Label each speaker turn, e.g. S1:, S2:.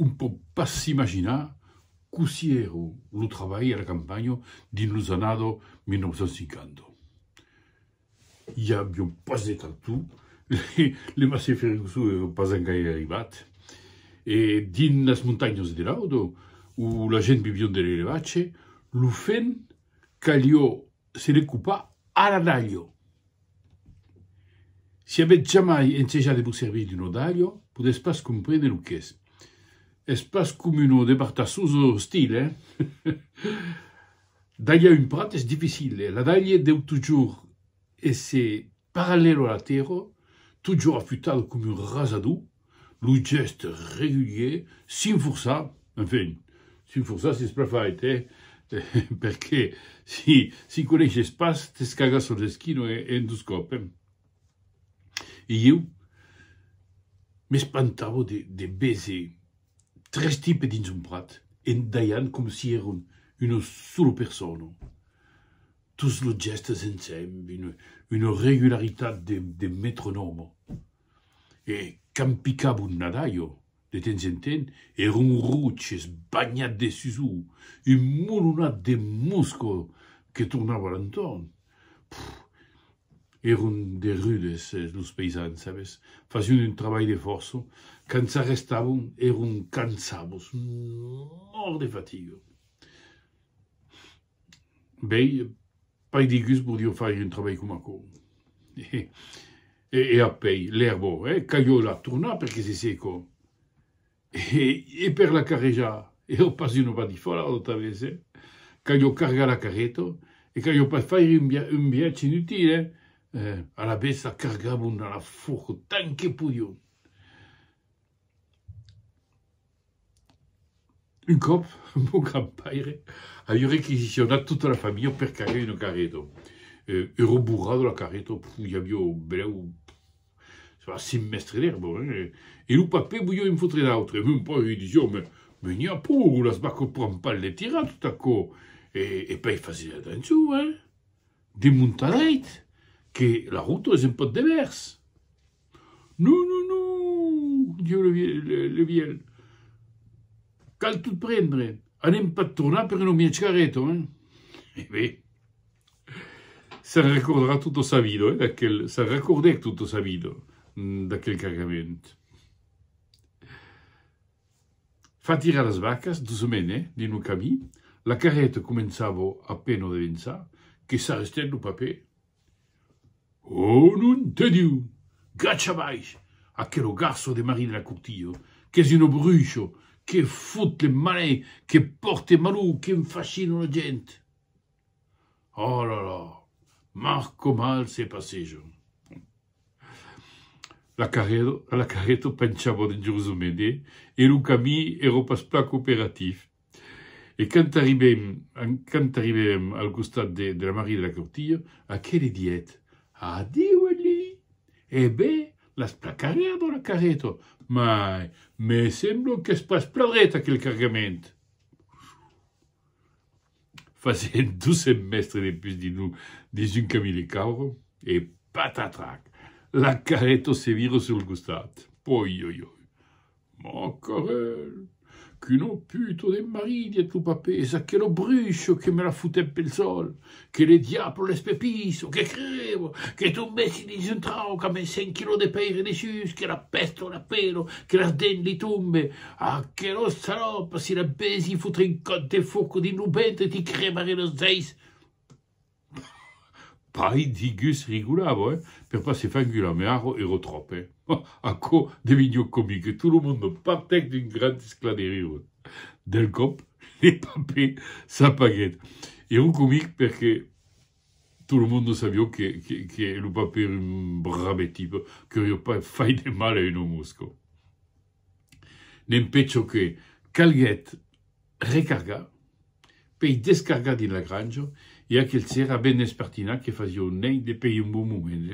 S1: Un pòt pas s'imaginar cossí èra lo trabalh a la campanha dins los annados 1950. I avián pas de tractor, le Massey Ferguson èra pas engaire arribat e dins las montanhas de Laudo, ont la gent vivián de l'elevatge, lo fenc calió Se recupà ara dalho. Si avètz jamai ensejat de vos servir d'un odalho, podètz pas comprene lo qu'es. Es pas com uno de bartassos o ostil, eh? Dalhar un prat es dificil e l'adalhe deu totjorn èsser Parallèlo a la tèrra, totjorn afutado coma un rasador, lo gèst regulièr s'inforçà, enfin, s'inforçà s'es plan fait, eh! perqué si si coneishes pas, t'es cagat sos esquinos en dos còps, eh! E ieu m'espantavo de de veser tres tipes dins un prat, en dalhant coma si èran una sola persona. Tous los gèstes ensemb, una regularitat de metronòme. E quand picava un nadalho, de temps en temps, èra un roch esbanhat de susor, un molonat de mosca que tornava a l'entorn. Puf! Èron de rudes, los païsans, sabes? Fasián un trabalh de fòrça. Quand s'arrestavan, èron cansados, mòrts de fatiga. Bèi, pas de gust podió faire un trabalh coma aquò. E apèi, l'èrbo, eh, calhó la tornar perque se secó. E per la carrejar, ero pas una badifòla tota vez, eh. Calhó cargar la carreta, e calhó pas faire un via un viatge inutil, eh. Alavetz la cargavon dans la forca tant que podión. Un còp, mon grand-paire aviá requisicionat tota la familha per cargar una carreta. Era au borrà de la carreta i aviá brèu a cinc mèstres d'èrba, e lo papè voliá en fotre un autre. Mon paire li disiá, Mès n'i a pro, las vacas pran pas le tirar tot aquò! E pei fasètz atencion, hein! Demontadèit que la rota es un pauc de vèrs! Non, non, non, diu le vielh, cal tot prendre, anem pas tornar per un mièg gareto, hein? E ben, se'n recordarà tota sa vida, eh, se'n recordèc tota sa vida d'aquel cargament. Fa tirar las vacas doçament, eh, dins lo camin, la carreta començava a pena de vençar, que s'arrestèt lo papè. Ò non te Diu! Gacha baish aquero garço de Marie de la Courtille, qu'es un obrucho, que fot le malin, que pòrte malou, qu'en fachina la gent! Ò la la! Mar com al se passeja! La carreta penchava dangerosament e lo camin èra pas plan cooperatif. E quand arribem, quand arribem al costat de, de la Marie de la Courtille, aquel li diet, Adiu, Elie! E ben, las placarè a bò la carreta! Mai, me semblo qu'es pas plan ret aquel cargament! Fasent dos cents mètres de pus dins lo, dins un camin de caura, e patatrac! La carreta se vira sul costat! Oi, oi, oi! Macarel! Quin oputo de marit, dièt lo papés, aquelo brusho que me la fotèt pel sol! Que le diablo l'espepisso! Que crebo! Que tombèssi dins un trauc a mes cent quilòs de pèire dessús, que la pèsto la pelo, que las dents li tombe! Aquelo salòp, si la vèsi fotre un còp de foco dins lo vèntre, ti crebarè los zeis! Pair digus rigolava, oi? Per pas se far engular, me arro ero tròp, eh? Aquò devinguèt comic e tot lo monde partèc d'un grand esclat de riures. Del còp, le papè s'apaguèt. Ero comic perque tot lo monde sabió que que lo papè ero un brave tipe, qu'aurió pas fait de mal a un òme osco. Dempé çò que calguèt recargar, pei descargar dins la granja, e aquel s'èra ben espertinat que fasiá un nèit depei un bon moment.